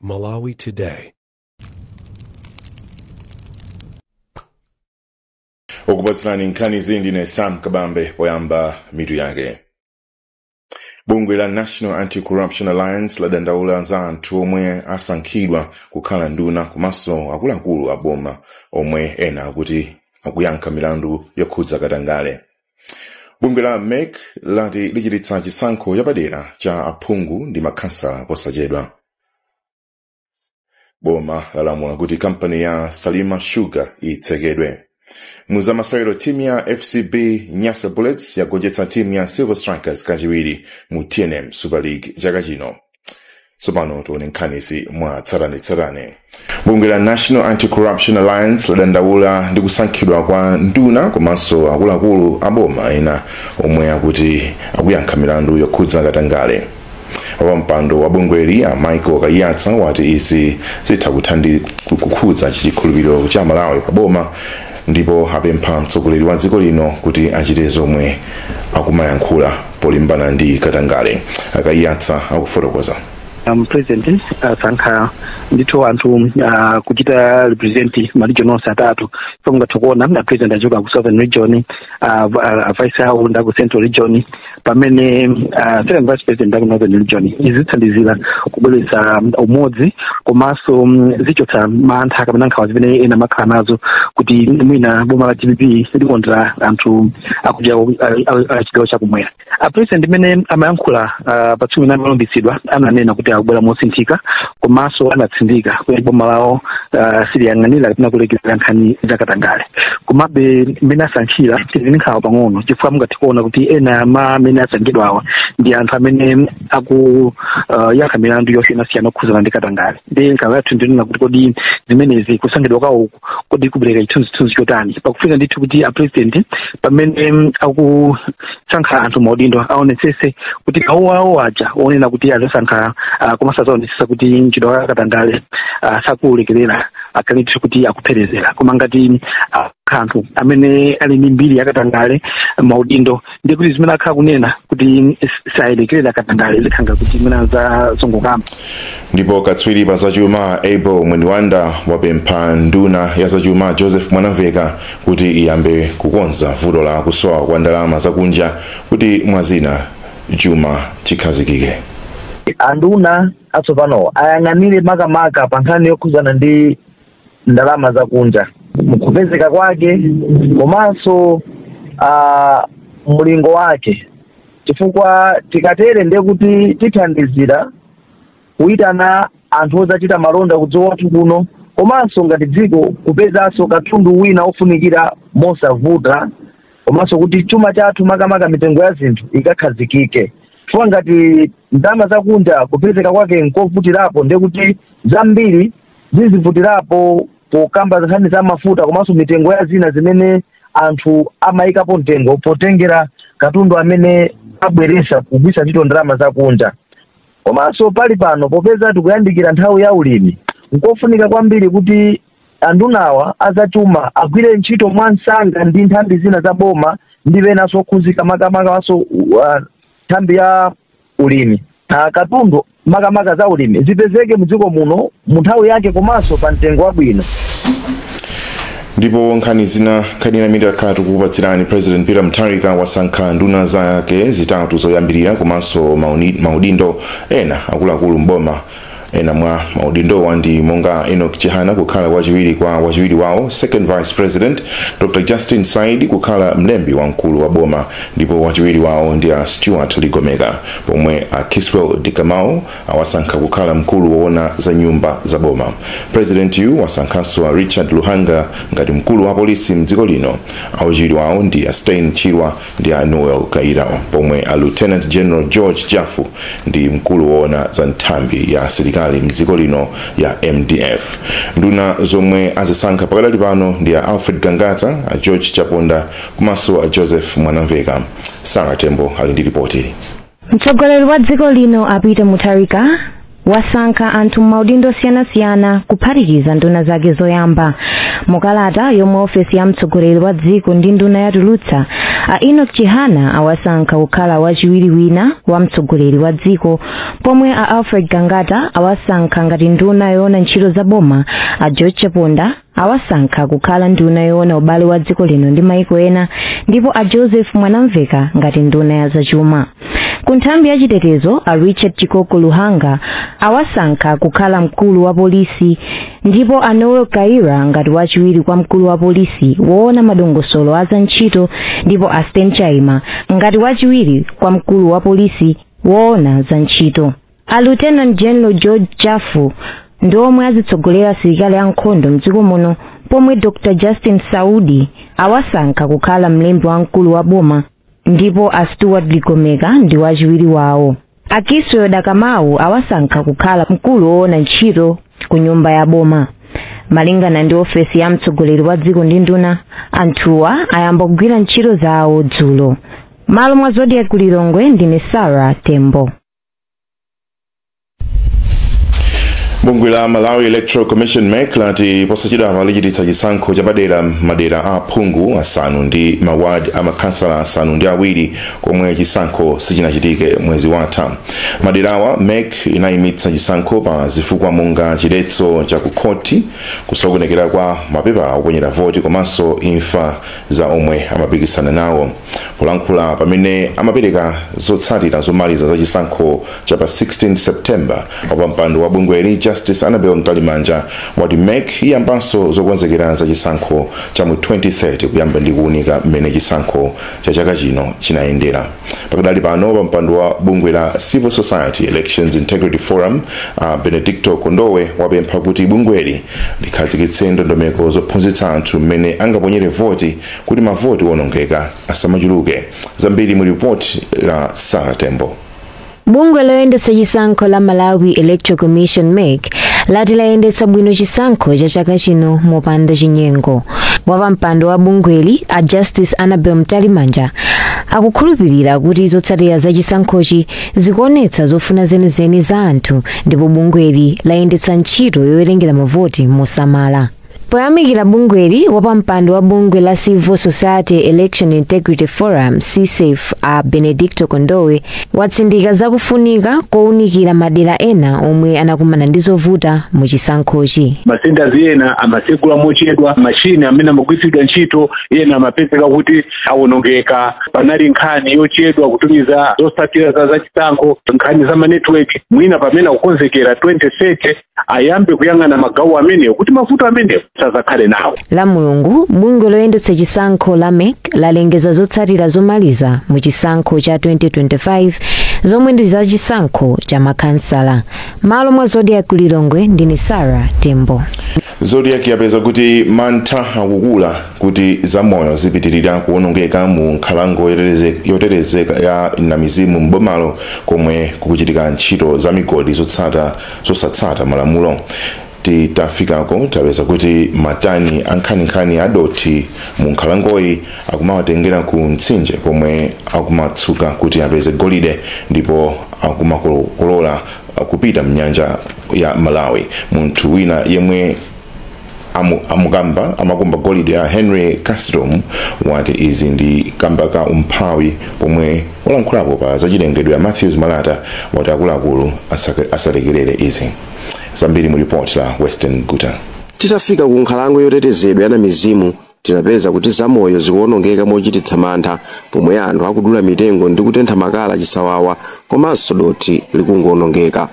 Malawi Today. okupatsirani nkhanizi ndine sam kabambe poyamba mitu yake bungwe la national anti-corruption alliance ladandaula za anthu omwe asankhidwa kukhala nduna komanso akuluakulu a boma omwe ena akuti akuyankha milandu yokhudza katangale bungwe la mec lati lichititsa chisankho chapadera cha aphungu ndi makhansala posachedwa boma lalamula kuti kampani ya salima sugar itsekedwe muzamasewero timu ya fcb nyasa bullets yagonjetsa timu ya silver strikers kachiwiri mu tnm super league chaka chino tsopano tione nkhanizi mwa tsatanetsatane bungwe la national anti-corruption alliance ladandaula ndi kusankhidwa kwa nduna komanso akuluakulu a boma ena omwe akuti akuyankha milandu yokhudza katangale wapampando wa bungweli a michael kaiyatsa wati izi zitha kuthandi kukhudza chikhulupiriro cha amalawi pa boma ndipo apempha mtsogoleri wa dziko lino kuti achite zomwe akumayankhula polimbana ndi katangale a kaiyatsa akufotokoza um, apresident asankha ndithu anthu uh, kuchita represent maregion onse atatu so mungathe kuona apresident achoka ku southern region uh, v- uh, vice awo nda aku central region pamene uh, second vice president nda aku northern region izi zithandizira kubweretsa um, umodzi komanso um, zichotsa mantha kapena nkhawa zimene ena amakhala nazo kuti mwina boma la dpp likondera anthu akuchigawo chakumwera apresident mmene amayankhula ah, pa tsiku limene amalumbiritsidwa ananena kuti akubwera mosinthika komanso anatsindika kuti boma lawo ah, siliyang'anira kapena kulekerera nkhani zakatangale komabe mmene asankhira tili ndi nkhawa pang'ono chifukwa mungathe kuona kuti ena ama amene asankhidwawa ndi anthu amene akuyankha milandu yosiyanasiyana okhudzana ndi katangale ndiye nkhawa yathu ndi yonena kuti kodi zimenezi kusankhidwa kwawo kodi kupereka chithunzithunzi chotani pakufunika ndithu kuti apresident pamene mm, akusankha anthu maudindo aonetsese kuti mawu awo aja onena kuti azasankha ah, komanso azaonetsesa kuti mchitidwe wa katangale ah, sakuulekerera akhale ndithu kuti akupherezera koma ngati ah, anthu amene ali ndi mbiri yakatangale maudindo ndiye kuti zimene akhala akunena kuti salekerera katangale zikhala ngati zimene zazongokamba ndipo katswiri pa zachuma abel mwenibanda wapempha nduna ya zachuma joseph mwanamveka kuti iyambe kukonza vuto la kusowa kwa ndalama zakunja kuti mwazina chuma chikhazikike anduna atsopanowo ayang'anire makamaka pa nkhani yokhudzana ndi ndalama zakunja mkupezeka kwake komanso uh, mlingo wake chifukwa tikatere ndiye kuti tithandizira kuyitana anthu odzachita malonda kudziko kwathu kuno komanso ngati dziko kupezanso katundu wina ofunikira mosavuta komanso kuti chuma chathu makamaka mitengo ya zinthu ikakhazikike chifukwa ngati ndalama zakunja kupezeka kwake nkovutirapo ndiye kuti zambiri zizivutirapo pokamba nkhani za mafuta komanso mitengo ya zina zimene anthu amayikapo mtengo potengera katundu amene abweresa kugwisa ntchito ndalama zakunja komanso pali pano popeza tikuyandikira nthawi ya ulimi nkofunika kwambiri kuti andunawa azachuma agwire ntchito mwamsanga ndi nthambi zina za boma ndi enanso okhuzika makamakanso uh, nthambi ya ulimi a katundu makamaka za ulimi zipezeke mu dziko muno mu nthawi yake komanso pa mtengo wabwino. ndipo nkhani zina nkhani ina imene takhala tikukupatsirani president peter mutharika wasankha nduna zake zitatu zoyambirira komanso maudindo ena akuluakulu mboma Ena mwa maudindowa ndi monga a Enoch Chihana kukhala wachiwiri kwa wachiwiri wawo second vice president, Dr Justin Saidi kukhala mlembi wamkulu wa boma ndipo wachiwiri wawo ndi a Stuart Ligomeka pomwe a Kiswell Dakamau awasankha kukhala mkulu woona za nyumba za boma. Presidentiyu wasankhanso a Richard Luhanga ngati mkulu wa polisi mdziko lino. Awachiwiri wawo ndi a Stain Chaima ndi a Noel Kayira pomwe a Lieutenant General George Jaffu ndi mkulu woona za nthambi ya asilikali mdziko lino ya MDF. Nduna zomwe azisankha pakadali pano ndi a Alfred Gangata, a George Chaponda komanso a Joseph Mwanamvekha. Sara Tembo ali ndi lipoti. Mtsogoleri wa dziko lino a Peter Mutharika wasankha anthu m'maudindo osiyanasiyana kuphatikiza nduna zake zoyamba. Mu kalata yomwe ofesi ya mtsogoleri wa dziko ndi nduna yatulutsa, a Enoch Chihana awasankha kukhala wachiwiri wina wa mtsogoleri wa dziko, pomwe a Alfred Gangata awasankha ngati nduna yoona ntchito za boma, a George Chaponda awasankha kukhala nduna yoona ubale wa dziko lino ndi maiko ena ndipo a joseph mwanamvekha ngati nduna ya zachuma ku nthambi ya chitetezo a richard chikoko luhanga awasankha kukhala mkulu wa polisi ndipo a noel kayira ngati wachiwiri kwa mkulu wa polisi woona madongosolo a za ntchito ndipo a stain chaima ngati wachiwiri kwa mkulu wa polisi woona za ntchito A Lieutenant General George Jafu ndi omwe azitsogolera asilikali ankhondo mdziko muno pomwe Dr Justin Saidi awasankha kukhala mlembi wamkulu wa boma ndipo a Stuart Ligomeka ndi wachiwiri wawo. A Kiswell Dakamawu awasankha kukhala mkulu woona ntchito ku nyumba ya boma. Malingana ndi ofesi ya mtsogoleri wa dziko ndi nduna, anthuwa ayamba kugwira ntchito zawo dzulo. Malo mwa Zodiak ku Lilongwe ndine Sarah Tembo. bungwe la malawi electoral commission mec lati posachedwa lichititsa chisankho chapadera m'madera a aphungu asanu ndi maward a makhansala asanu ndi awiri komwe chisankho sichinachitike mwezi watha m'maderawa mec inayimitsa chisankho pa zifukwa monga chiletso cha kukhoti kusokonekera kwa mapepa oponyera voti komanso imfa za omwe amapikisana nawo polankhula pamene amapereka zotsatira zomaliza za chisankho cha pa 16 september wapampando wa bungweli justice annabel mtalimanja wati mec iyambanso zokonzekera za chisankho cha mu 2030 kuyamba ndi kuunika mmene chisankho cha chaka chino chinayendera pakadali pano wapampando wa bungwe la civil society elections integrity forum a benedicto kondowe wapempha kuti bungweli likhazikitse ndondomeko zophunzitsa anthu mmene angaponyere voti kuti mavoti owonongeka asamachuluke zambiri mu ripoti la sarah tembo Bungwe loyendetsa chisankho la Malawi Electoral Commission MEC lati layendetsa bwino chisankho cha chaka chino mopanda chinyengo. Wapampando wa bungweli a Justice Annabel Mtalimanja akukhulupirira kuti zotsatira za chisankhochi zikuonetsa zofuna zenizeni za anthu ndipo bungweli layendetsa ntchito yowerengera mavoti mosamala. Poyamikira bungweli, wapampando wa bungwe la Civil Society Election Integrity Forum CSEIF a Benedicto Kondowe watsindika zakufunika kowunikira madera ena omwe anakumana ndi zovuta mu chisankhochi. masentazi ena amatsegula mochedwa machini amene amagwiritsidwa ntchito ena amapezeka kuti awonongeka panali nkhani yochedwa kutumiza zotsatira zachisankho nkhani za manetiweki mwina pamene akukonzekera 2030 ayambe kuyang'ana magawo amenewo kuti mavuto amenewo asazakhale nawo lamulungu bungwe loyendetsa chisankho la mec lalengeza zotsatira zomaliza mu chisankho cha 2025 zomwe ndi za chisankho cha makhansala malo mwa zodiak ku lilongwe ndine sarah tembo zodiak yapeza kuti mantha akukula kuti zamoyo zipitirira kuonongeka mu nkhalango yotetezeka ya namizimu m'bomalo komwe kukuchitika ntchito za migodi zotsata zosatsata malamulo titafikako tapeza kuti matani ankhaninkhani adothi mu nkhalangoyi akumawatengera ku mtsinje komwe akumatsuka kuti apeze golide ndipo akumakokoloka kupita mnyanja ya malawi munthu wina yemwe amukamba amakumba golide a henry kasitomu wati izi ndi kamba ka umphawi pomwe olankhulapo pa zachilengedwe a matthews malata wati akuluakulu asalekerere izi zambiri mu ripoti la western guta titafika ku nkhalango yotetezedwa ya namizimu tinapeza kuti zamoyo zikuwonongeka mochititsa mantha pomwe anthu akudula mitengo ndi kutentha makala chisawawa komanso dothi likungowonongeka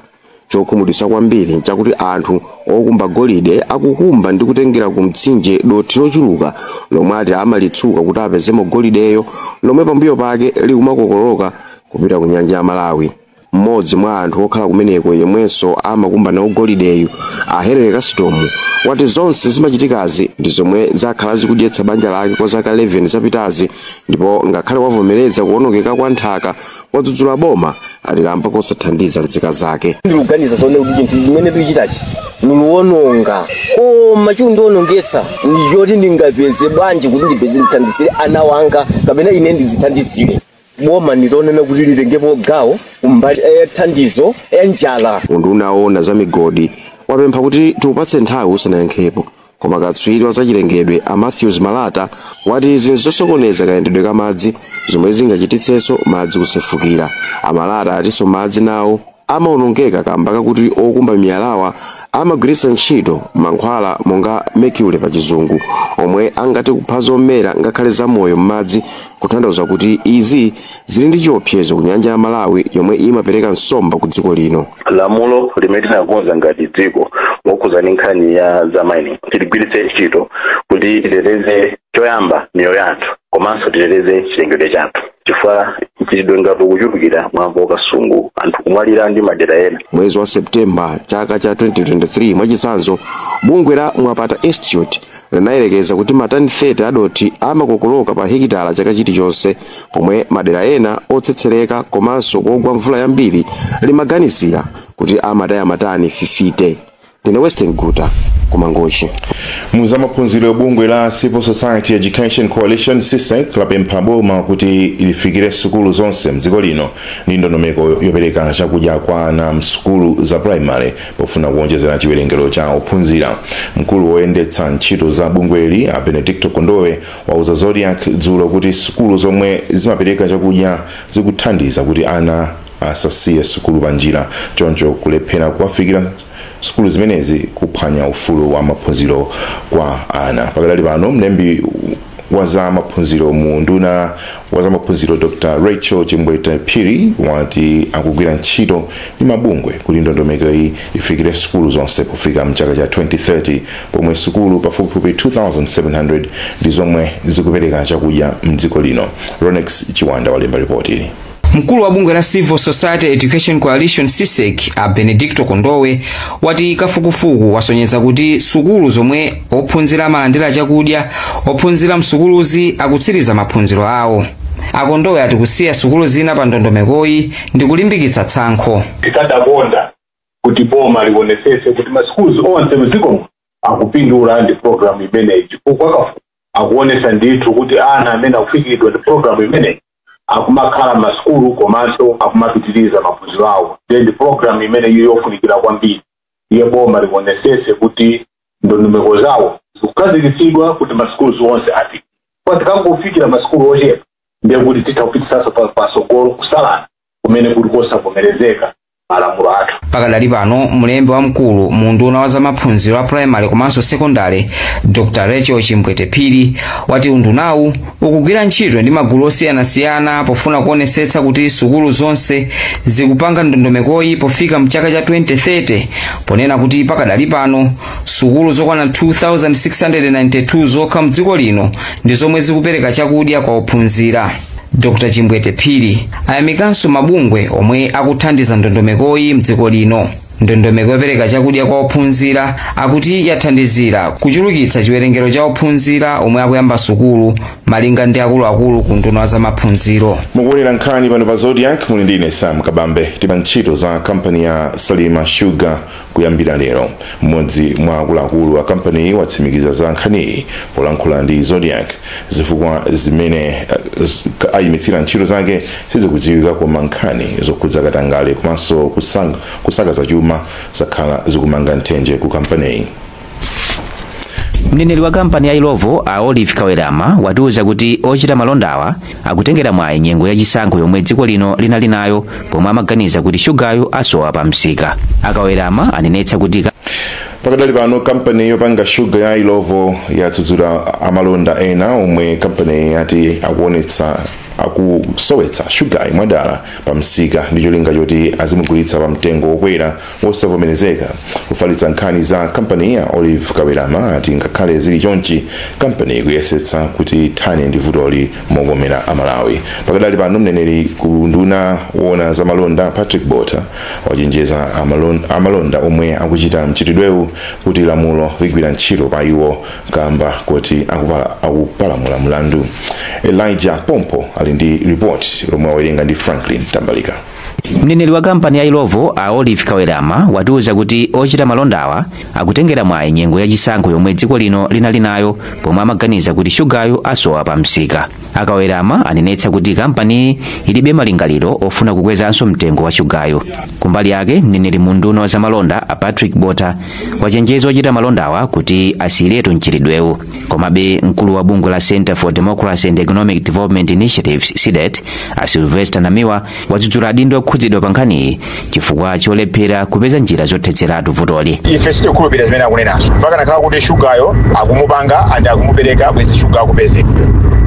Chokhumudwitsa kwambiri n'chakuti anthu okumba golide akukumba ndi kutengera ku mtsinje dothi lochuluka lomwe ati amalitsuka kuti apezemo golideyo, lomwe pambuyo pake likumakokoloka kupita ku nyanja ya Malawi. Mmodzi mwa anthu okhala kumeneko yemwenso amakumba nawo golideyu, a Henry Kasitomu, wati zonse zimachitikazi ndi zomwe zakhala zikudyetsa banja lake kwa zaka 11 zapitazi ndipo ngakhale wavomereza kuwonongeka kwa nthaka, wadzudzula boma ati kamba kosathandiza nzika zake ndikuganiza zoona kuti chinthu chimene ndikuchitachi ndikuwononga koma chikundionongetsa ndichoti ndingapeze bwanji kuti ndipeze ndithandizire ana wanga kapena ine ndidzithandizire boma nditanena kuti litengepo gawo kumbali ya thandizo ya njala unduna woona za migodi wapempha kuti tiupatse nthawi usanayankhepo Koma katswiri wa zachilengedwe a Mathews Malata wati izi nzosokoneza kayendedwe ka madzi zomwe zingachititsenso madzi kusefukira. A Malata atinso madzi nawo amaonongeka kamba kakuti okumba miyalawa amagwiritsa ntchito mankhwala monga mercury pa chizungu omwe angathe kupha zomera ngakhale zamoyo m'madzi kutanthauza kuti izi zili ndi chiopsezo ku nyanja ya Malawi yomwe imapereka nsomba ku dziko lino. lamulo limene tinakonza ngati dziko mokhudzana ndi nkhani ya za mining tiligwiritse ntchito kuti titeteze choyamba miyoyo yathu komanso titeteze chilengedwe chathu chifukwa mchitidwe ngati ukuchulukira mwamva ku kasungu anthu kumwalira ndi madera ena mwezi wa septemba chaka cha 2023 mwachitsanzo bungwe la mwapata institute linayerekeza kuti matani 30 a dothi amakokoloka pa hekitala chaka chilichonse, pomwe madera ena otsetsereka komanso kogwa mvula yambiri limaganizira kuti amataya matani 50. Ndine Western Guta ku Mangochi. muzamaphunziro bungwe la civil society education coalition csec lapempha boma kuti lifikire sukulu zonse mdziko lino ndi ndondomeko yopereka chakudya kwa ana msukulu za primary Pofuna kuwonjezera chiwerengero cha ophunzira, mkulu woyendetsa ntchito za bungweli a Benedicto Kondowe wauza Zodiak dzulo kuti sukulu zomwe zimapereka chakudya zikuthandiza kuti ana asasiye sukulu panjira choncho kulephera kuwafikira sukulu zimenezi kuphwanya ufulu wa maphunziro kwa ana. Pakadali pano, mlembi wa za maphunziro mu unduna Wazamaphunziro Dr. Rachel Chimbwete Phiri wati akugwira ntchito ndi mabungwe kuti ndondomekoyi ifikire sukulu zonse pofika mchaka cha 2030 pomwe sukulu pafupifupi 2700 ndi zomwe zikupereka chakudya mdziko lino. Ronex Chiwanda walemba ripoti ili. Mkulu wa bungwe la Civil Society Education Coalition CSEC a Benedicto Kondowe wati kafukufuku wasonyeza kuti sukulu zomwe ophunzira amalandira chakudya ophunzira msukuluzi akutsiriza maphunziro awo akondowe ati kusiya sukulu zina pa ndondomekoyi ndi kulimbikitsa tsankho tikadakonda kuti boma lionetsetse kuti maschools onse mdziko muno akupindula ndi program imeneyi chifukwa kafukufuku akuonetsa ndithu kuti ana amene akufikiridwa ndi program imeneyi akumakhala mmasukulu komanso akumapitiriza maphunziro awo ndiye ndi program imeneyi yofunikira kwambiri iye boma lionetsetse kuti ndondomeko zawo zikukhazikitsidwa kuti ma schools onse afikiridwa tikangofikira ma school ochepa ndiye kuti titha kupitisanso pa- patsogolo kusalana kumene kuli kosavomerezeka mmalamulo athu pakadali pano mlembi wamkulu mu unduna wa zamaphunziro a primary komanso sekondale dr rachel chimbwete phiri wati undunawu ukugwira ntchito ndi magulu osiyanasiyana pofuna kuonesetsa kuti sukulu zonse zikupanga ndondomekoyi pofika mchaka cha 2030 ponena kuti pakadali pano sukulu zokwana 2692 zokha mdziko lino ndi zomwe zikupereka chakudya kwa ophunzira dr chimbwete phiri ayamikanso mabungwe omwe akuthandiza ndondomekoyi mdziko lino ndondomeko yopereka chakudya kwa ophunzira akuti yathandizira kuchulukitsa chiwerengero cha ophunzira omwe akuyamba sukulu malinga ndi akuluakulu ku unduna wa zamaphunziro mukuonera nkhani pano pa zodiak muli ndi ine sam kabambe tipa ntchito za kampani ya salima sugar kuyambira lero mmodzi mwa akuluakulu a kampaniyi watsimikiza za nkhaniyi polankhula ndi zodiak zifukwa zimene uh, ayimitsira ntchito zake sizikudziwika koma nkhani zokhudza katangale komanso kusang- kusakaza chuma zakhala zikumanga nthenje ku kampaniyi mneneri wa kampani ya illovo a olive kawelama watiuza kuti ochita malondawa akutengera mwayi nyengo ya chisankho yomwe dziko lino linali nayo pomwe amaganiza kuti shugayu asowa pa msika akawelama anenetsa kuti pakadali pano kampani yopanga shuga ya ilovo yadzudzula amalonda ena omwe kampaniyi yati akuonetsa akusowetsa shugayi mwadala pa msika ndi cholinga choti azimugulitsa pa mtengo wokwera wosavomerezeka ofalitsa nkhani za kampani a olive kawerama ati ngakhale zili chonchi kampani ikuyesetsa kuti ithane ndi vutoli mokomera amalawi pakadali pano mneneri ku unduna woona za malonda patrick botha wachenjeza amalonda omwe akuchita mchitidwewu kuti lamulo ligwira ntchito pa iwo kamba koti akupalamula mlandu elijah pompo ali ndi ripoti lomwe awerenga ndi franklin tambalika mneneri wa kampani ya ilovo a olive kawerama atiuza kuti ochita malondawa akutengera mwayi nyengo yachisankho yomwe dziko lino linali nayo pomwe amaganiza kuti shugayu asowa pa msika akawerama anenetsa kuti kampaniyi ilibe malingaliro ofuna kukwezanso mtengo wa shugayo kumbali yake mneneri mu unduna wa zamalonda a patrick botha wachenjeza ochita malondawa kuti asiyiretu mchitidwewu komabe mkulu wa bungwe la center for democracy and economic development initiatives cdedi a sylvester namiwa wadzudzula adindo okhudzidwa pa nkhaniyi chifukwa cholephera kupeza njira zothetseratu vutoli ife sitikhulupirira zimene akunenazo chifukwa kanakhala kuti shugayo akumupanga and akumupereka bwezi shuga akupezeka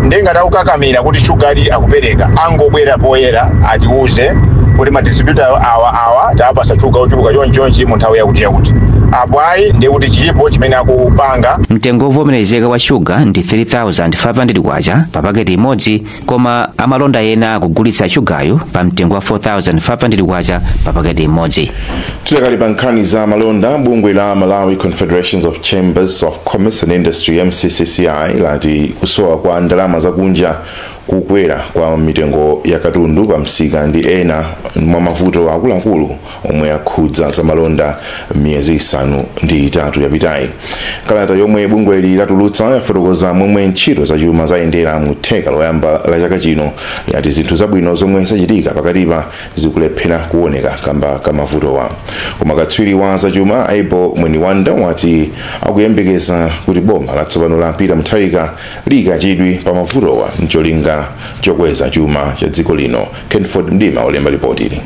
ndiye ngati akukakamira kuti shuga ali akupereka angobwera poyera atiuze kuti madistributa awa awa tapatsa shuga ochuluka chonchonchi mu nthawi yakuti yakuti apo ayi ndiye kuti chilipo chimene akupanga mtengo wovomerezeka wa shuga ndi 3500 kwacha pa paketi imodzi koma amalonda ena akugulitsa shugayu pa mtengo wa 4500 kwacha pa paketi imodzi tidakali pa nkhani za malonda bungwe la malawi confederation of chambers of commerce and industry mccci lati kusowa kwa ndalama zakunja kukwera kwa mitengo ya katundu pa msika ndi ena mwa mavuto akuluakulu omwe akhudza zamalonda miyezi isanu ndi itatu yapitayi kalata yomwe bungweli latulutsa yafotokoza momwe ntchito zachuma zayendera mu theka loyamba la chaka chino yati zinthu zabwino zomwe zachitika pakatipa zikulephera kuoneka kamba ka mavutowa koma katswiri wa zachuma abel mwenibanda wati akuyembekeza kuti boma latsopano la peter mutharika liyika chidwi pa mavutowa ncholinga chokweza chuma cha dziko lino Kenford Mdima walemba lipotili.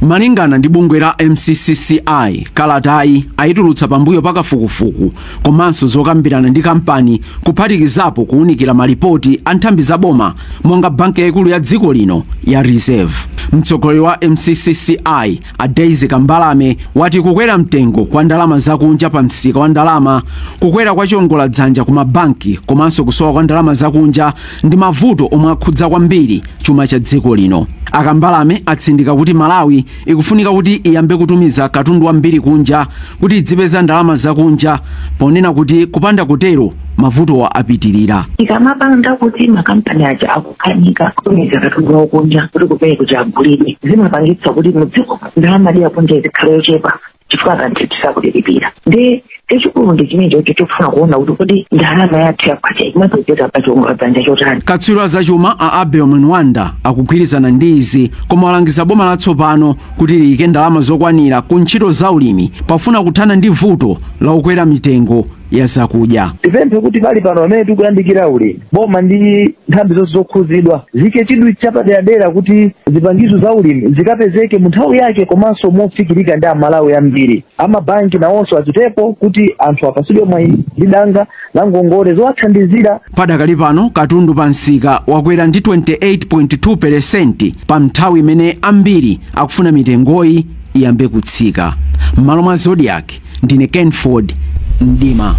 Malingana ndi bungwe la MCCCI, kalatayi ayitulutsa pambuyo pa kafukufuku komanso zokambirana ndi kampani kuphatikizapo kuwunikira malipoti a nthambi za boma monga banki yaikulu ya dziko lino ya Reserve. Mtsogoleri wa MCCCI a Daisy Kambalame wati kukwera mtengo kwa ndalama zakunja pa msika wa ndalama, kukwera kwa chiongola dzanja ku mabanki komanso kusowa kwa ndalama zakunja ndi mavuto omwe akhudza kwambiri chuma cha dziko lino. A Kambalame atsindika kuti Malawi ikufunika kuti iyambe kutumiza katundu wambiri kunja kuti idzipeza ndalama zakunja ponena kuti kupanda kutero mavuto apitirira. ikamapanga kuti makampani aja akukanika kutumiza katundu wawo kunja kuti kupereka kuti agulidwe zimapangitsa kuti mudziko ndalama ya kunja ikhale yochepa chifukwa kanthu tisakulipira ndi chachikulu ndi chimenecho chofuna kuona kuti kodi ndalama yathu yakwacha imapezeka pa chiwongola dzanja chotani katswiri wa zachuma a abel mwenwanda akugwirizana ndi izi koma walangiza boma latsopano kuti liyike ndalama zokwanira ku ntchito za ulimi pafuna kuthana ndi vuto la kukwera mitengo ya zakudya. Tipemphe kuti pali pano pamene tikuyandikira ulimi, boma ndi nthambi zonse zokhuzidwa ziike chidwi chapaderadera kuti zipangizo za ulimi zikapezeke mu nthawi yake komanso mofikirika ndi Amalawi ambiri. A mabanki nawonso achitepo kuti anthu apasidwe mwayi ndi danga la ngongole zowathandizira. Padakali pano katundu pa msika wakwera ndi 28.2 peresenti pa nthawi imene ambiri akufuna mitengoyi iyambe kutsika. M'malo mwa Zodiak, ndine kenford mdima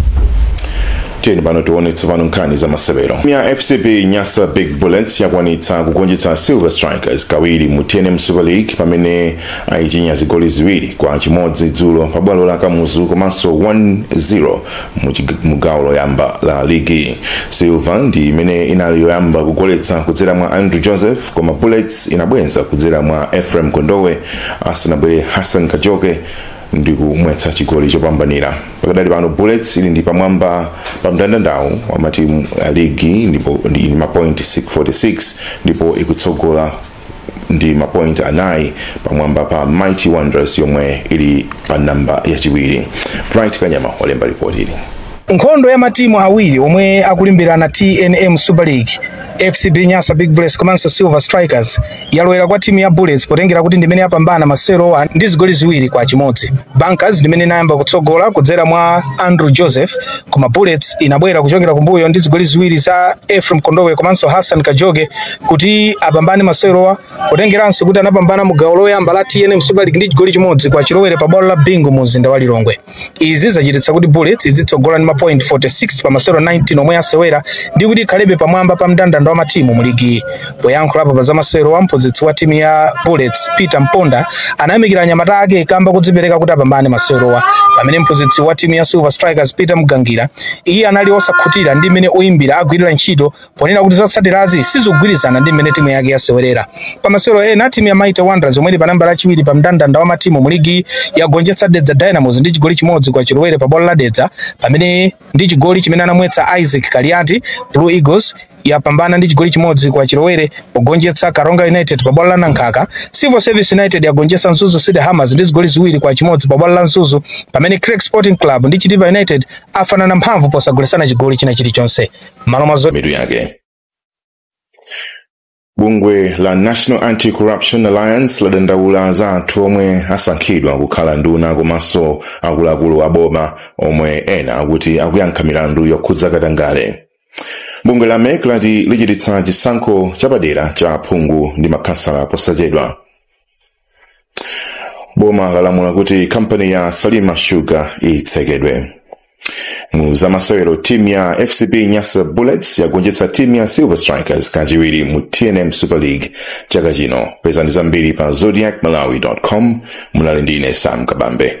tiyeni pano tione tsopano nkhani za masewero ya fcb nyasa big bullets yakwanitsa kugonjetsa silver strikers kawiri mu tnm super league pamene ayichinya zigoli ziwiri kwa chimodzi dzulo pa bwalo la kamuzu komanso 1-0 mu chig- mu gawo loyamba la ligi silver ndi imene inali yoyamba kugoletsa kudzera mwa andrew joseph koma bullets inabwenza kudzera mwa ephraim kondowe asanabwere hassan kajoke ndi kumwetsa chigoli chopambanira pakadali pano bullets ili ndi pamwamba pa mndandandawu wa matimu a ligi ndipo ndi ndi mapointi 46 ndipo ikutsogola ndi mapointi anayi pamwamba pa mighty wanderers yomwe ili pa namba yachiwiri bright kanyama walemba ripoti ili Nkhondo ya matimu awiri omwe akulimbirana tnm Super League, FCB Nyasa Big Bullets komanso Silver Strikers, yalowera kwa timu ya Bullets potengera kuti ndimene yapambana masewerowa ndi zigoli ziwiri kwa chimodzi. Bankers ndimene inayamba kutsogola kudzera mwa Andrew Joseph, koma Bullets inabwera kuchokera kumbuyo ndi zigoli ziwiri za Ephraim Kondowe komanso Hassan Kajoke kuti apambane masewerowa potengeranso kuti anapambana mu gawo loyamba la tnm Super League ndi chigoli chimodzi kwa chilowere pa bwalo la Bingu mu mzinda wa Lilongwe. Izi zachititsa kuti Bullets idzitsogola ndi mapoint 46 pa masewero 19 omwe yasewera ndi kuti ikhalebe pamwamba pa mndandanda wa matimu mu ligi. Poyankhulapo pa zamasewerowa mphunzitsi wa timu ya Bullets Peter Mponda anayamikira anyamata ake kamba kodzipereka kuti apambane masewerowa pamene mphunzitsi wa timu ya Silver Strikers Peter Mgangira iye anali osakhutira ndi mmene oyimbira agwirira ntchito ponena kuti zotsatirazi sizogwirizana ndi mmene timu yake yasewerera. Pa masewero ena, timu ya Mighty Wanderers yomwe ili pa nambala yachiwiri pa mndandanda wa matimu mu ligi yagonjetsa Dedza Dynamos ndi chigoli chimodzi kwa chilowere pa bwalo la Dedza pamene ndi chigoli chimene anamwetsa Isaac Kaliati Blue Eagles yapambana ndi chigoli chimodzi kwa chilowere pogonjetsa Karonga United pa bwalo la Nankhaka. Civil Service United yagonjetsa Mzuzu City Hammers ndi zigoli ziwiri kwa chimodzi pa bwalo la Mzuzu pamene Creck Sporting Club ndi Chitipa United afanana mphamvu posagolesana chigoli china chilichonse. Mitu yake bungwe la national anti-corruption alliance ladandaula za anthu omwe asankhidwa kukhala nduna komanso akuluakulu a boma omwe ena akuti akuyankha milandu yokhudza katangale bungwe la mec lati lichititsa chisankho chapadera cha aphungu ndi makhansala posachedwa boma lalamula kuti kampani ya salima sugar itsekedwe mu zamasewero timu ya fcb nyasa bullets yagonjetsa timu ya silver strikers kachiwiri mu tnm super league chaka chino pezani zambiri pa zodiak malawi com munali ndi ine sam kabambe